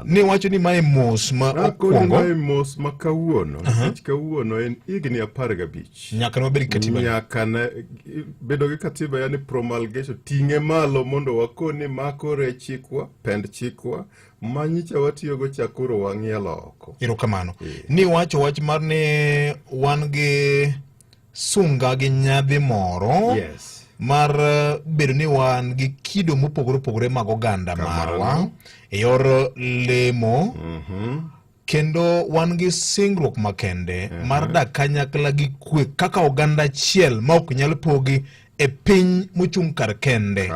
Ni wacho ni mae mos ma okuongo. Mae mos ma kawuono. Nikech kawuono en higni apar gabich. Nyaka nobed gi katiba. Nyaka na bedo gi katiba yani promulgation ting'e malo mondo wakoni mako rechikwa, pend chikwa, manyicha watiyogo chakoro wang'ielo oko. Erokamano. Ni wacho wach mar ni wan gi sunga gi nyadhi moro yes. mar eh, bedo ni wan gi kido mopogore opogore mag oganda marwa e yor lemo mm -hmm. kendo wan gi singruok makende mm -hmm. mar dak kanyakla gi kwe kaka oganda achiel ma ok nyal pogi e piny mochung' kar kende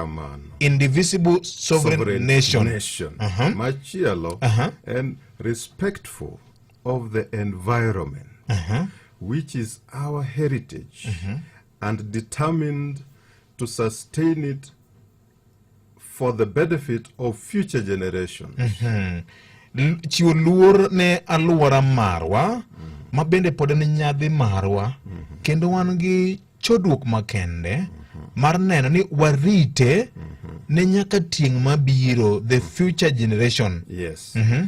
indivisible sovereign, sovereign nation, nation. Uh -huh. machielo uh -huh. en respectful of the environment uh -huh. which is our heritage uh -huh. and determined to sustain it for the benefit of future generations. Uh -huh. Chiwo luor ne aluora marwa mm. ma bende pod en nyadhi marwa mm -hmm. kendo wan gi chodruok makende mm -hmm. mar neno ni warite mm -hmm. ne nyaka tieng' mabiro the future generation. Yes. Mm -hmm.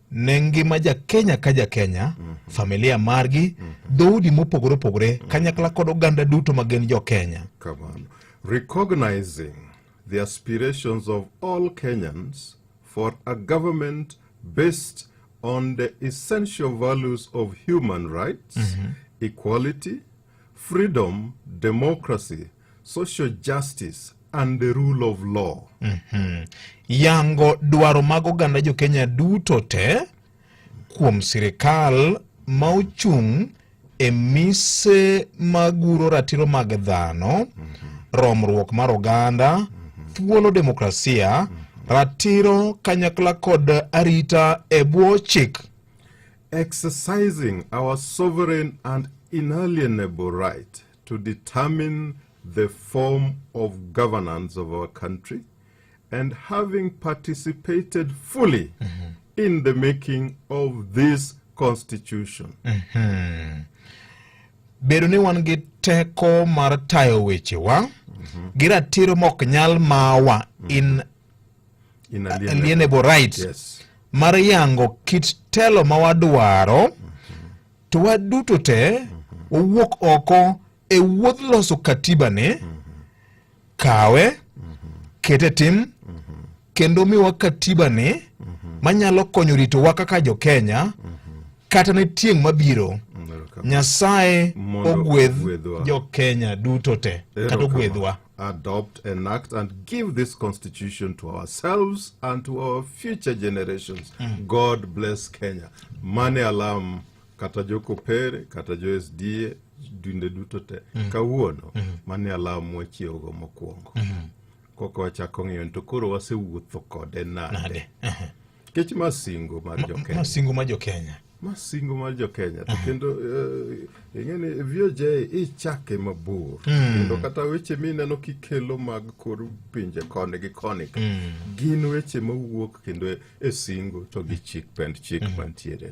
ne ngima jakenya ka jakenya mm -hmm. familia margi mm -hmm. dhoudi mopogore opogore mm -hmm. kanyakla kod oganda duto ma gin jokenya kamano recognizing the aspirations of all kenyans for a government based on the essential values of human rights mm -hmm. equality Freedom, democracy, social justice and the rule of law. Mm -hmm. Yango dwaro mag oganda jo Kenya duto te kuom sirikal ma ochung' e mise maguro ratiro mag dhano, mm -hmm. romruok mar oganda, mm -hmm. thuolo demokrasia, mm -hmm. ratiro kanyakla kod arita e bwo chik. Exercising our sovereign and inalienable right to determine the form of governance of our country and having participated fully mm -hmm. in the making of this constitution. Mm -hmm. Bedo ni wan gi teko mar tayo wechewa mm -hmm. gi ratiro mok nyal mawa mm -hmm. in inalienable right yes. mar yango kit telo ma wadwaro mm -hmm. to waduto te mm -hmm. wawuok oko e wuodh loso katiba ni mm -hmm. kawe mm -hmm. kete tim mm -hmm. kendo miwa katiba ni mm -hmm. manyalo konyo ritowa kaka jo Kenya mm -hmm. kata ne tieng' mabiro mm -hmm. Nyasaye ogwedh jo Kenya duto te kata ogwedhwa adopt, enact, and give this constitution to ourselves and to our future generations. Mm. God bless Kenya. Mane alam kata jo kopere kata jo SDA dinde duto te mm. kawuono mm. mane alam wachiewogo mokwongo mm. koka wachako ng'iyo to koro wasewuotho kode nade Kech ma singo mar Ma- jokenya. masingo ma jokenya masingo mar jokenya to kendo eh, ing'eni voj ichake mabor kendo kata weche mineno kikelo mag kor pinje koni gi koni ka, gin weche mawuok kendo e- e singo to gi chik pend chik mantiere